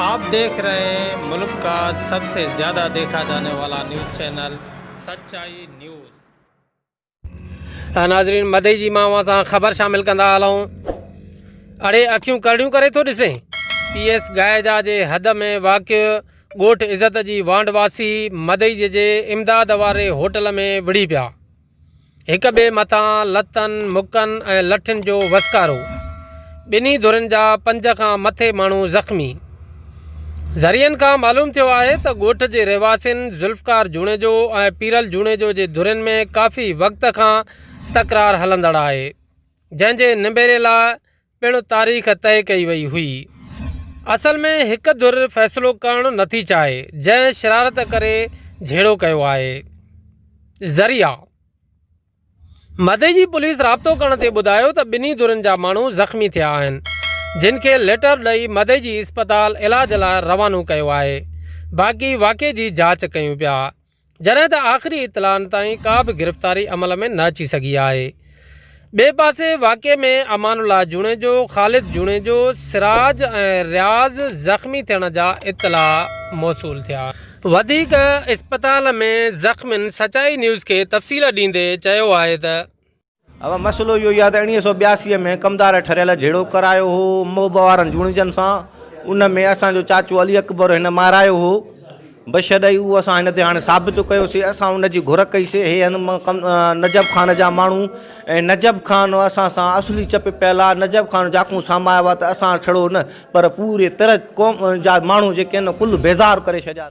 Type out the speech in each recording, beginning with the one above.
آپ ديکھ رھي ھين ملڪ کا سب سي زياده ديکھا جاني والا نيوز چينل سچائي نيوز. ته ناظرين مدعي جي مان اوهان سان خبر شامل ڪندا هلون. اڙي اکيون ڪرڙيون ڪري ٿو ڏسين. پي ايس گائيجا جي حد ۾ واقع ڳوٺ عزت جي وانڊ واسي مدعي جي جي امداد واري هوٽل ۾ وڙهي پيا. هڪ ٻئي مٿان لتن، مڪن ۽ لٺين جو وسڪارو، ٻنهي ڌرين جا پنج کان مٿي ماڻهو زخمي. ذريعن کان معلوم ٿيو آهي ته ڳوٺ جي رهواسين ذوالفقار جوڻيجو ۽ پيرل جوڻيجو جي ڌرين ۾ ڪافي وقت کان تڪرار هلندڙ آهي، جنهن جي نبيري لاء پڻ تاريخ طئي ڪئي وئي هئي. اصل ۾ هڪ ڌر فيصلو ڪرڻ نٿي چاهي، جنهن شرارت ڪري جهيڙو ڪيو آهي. ذريعا مدي جي پوليس رابطو ڪرڻ تي ٻڌايو ته ٻنهي ڌرين جا ماڻهو زخمي ٿيا آهن، جن کي ليٽر ڏئي مدي جي اسپتال علاج لاء روانو ڪيو آهي، باقي واقعي جي جاچ ڪيون پيا. جڏهن ته آخري اطلاعن تائين ڪا به گرفتاري عمل ۾ نه اچي سگهي آهي. ٻئي پاسي واقعي ۾ امان الله جوڻيجو، خالد جوڻيجو، سراج ۽ رياض زخمي ٿيڻ جا اطلاع موصول ٿيا آهن. وڌيڪ اسپتال ۾ زخمين سچائي نيوز کي تفصيل ڏيندي چيو آهي ته. اوهان مسئلو اهو ئي آهي ته اڻيويهه سؤ ٻياسي ۾ ڪمدار ٺريل جهيڙو ڪرايو هو محب وارن جوڻيجن سان ان ۾ اسان جو چاچو علي اڪبر هن مارايو هو بشد اهو اسان هن تي هاڻي ثابت ڪيوسي اسان ان جي گهر ڪئي سي هي هن نجف خان جا ماڻهو ۽ نجف خان اسان سان اصلي چپ پيل آهي نجف خان جاکون سامايو آهي ته اسان ڇڙو نه پر پوري ترج قوم جا ماڻهو جيڪي ان ڪل بيزار ڪري ڇڏيا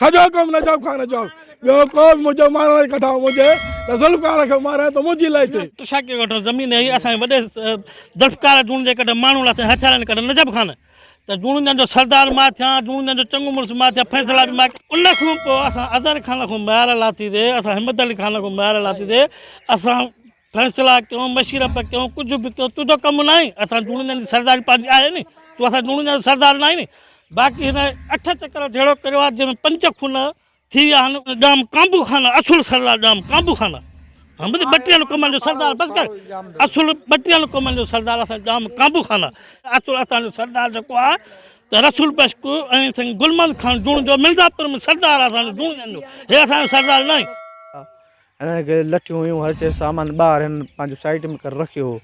سڄو ڪم نجف خان جو ٻيو ڪو به منهنجو مارڻ جي ڪڍائو منهنجي ته ذوالفقار کي ماري ته منهنجي لئي ٿي. ٽشاڪي ڳوٺ ۾ زمين هئي اسان جي وڏي ذوالفقار جوڻيجي جي ڪڍ ماڻهو لٿي هٿيارن جي ڪڍ نجف خان ته جوڻيجن جو سردار مان ٿيان جوڻيجن جو چڱو مڙس مان ٿيان فيصلا به مان ان کان پوء اسان اظهر خان کان ميار لاٿي سي اسان همت علي خان کان ميار لاٿي سي اسان فيصلا ڪيون مشرف ڪيون ڪجھ به ڪيون تنهنجو ڪم ناهي اسان جوڻيجن جي سرداري پنهنجي آهي ني تون اسان جوڻيجن جو سردار ناهي ني باقي هن اٺ چڪر جهيڙو ڪريو آهي جنهن ۾ پنج خون ٿي ويا آهن ڄام ڪانبو خان اصل سردار ڄام ڪانبو خان آهي ٻڌ ٻٽيهن قومن جو سردار بس ڪر اصل ٻٽيهن قومن جو سردار اسان ڄام ڪانبو خان آهي اصل اسان جو سردار جيڪو آهي ته رسول بشڪ ۽ سائين گلمند خان جوڻيجو مرزا پور ۾ سردار آهي اسان جو جوڻيجن جو هي اسان جو سردار ناهي. انهن کي لٺيون هيون هر شيء سامان ٻاهر هنن پنهنجي سائيٽ ۾ ڪري رکيو هو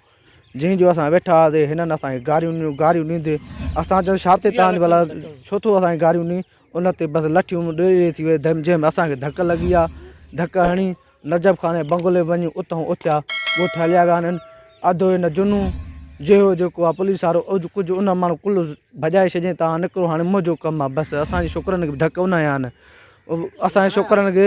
جنهن جو اسان ويٺا هئاسين هنن اسان کي گاريون ڏنيون گاريون ڏيندي اسان چيو ڇا تي تان ڀلا ڇو ٿو اسان کي گاريون ڏئي ان تي بس لٺيون ڏي ڏي ٿي وئي جنهن ۾ اسان کي ڌڪ لڳي آ ڌڪ هڻي نجف خان جي بنگلي وڃي اتهون اٿيا ڳوٺ هليا ويا هنن اڌ هن جنو جهيو جيڪو آ پوليس وارو اڄ ڪجهه ان ماڻهو ڪل ڀڄائي ڇڏيائين تان نڪرو هاڻي منهنجو ڪم آ بس اسان جي ڇوڪرن کي به ڌڪ ان هنيا آهن اسان جي ڇوڪرن کي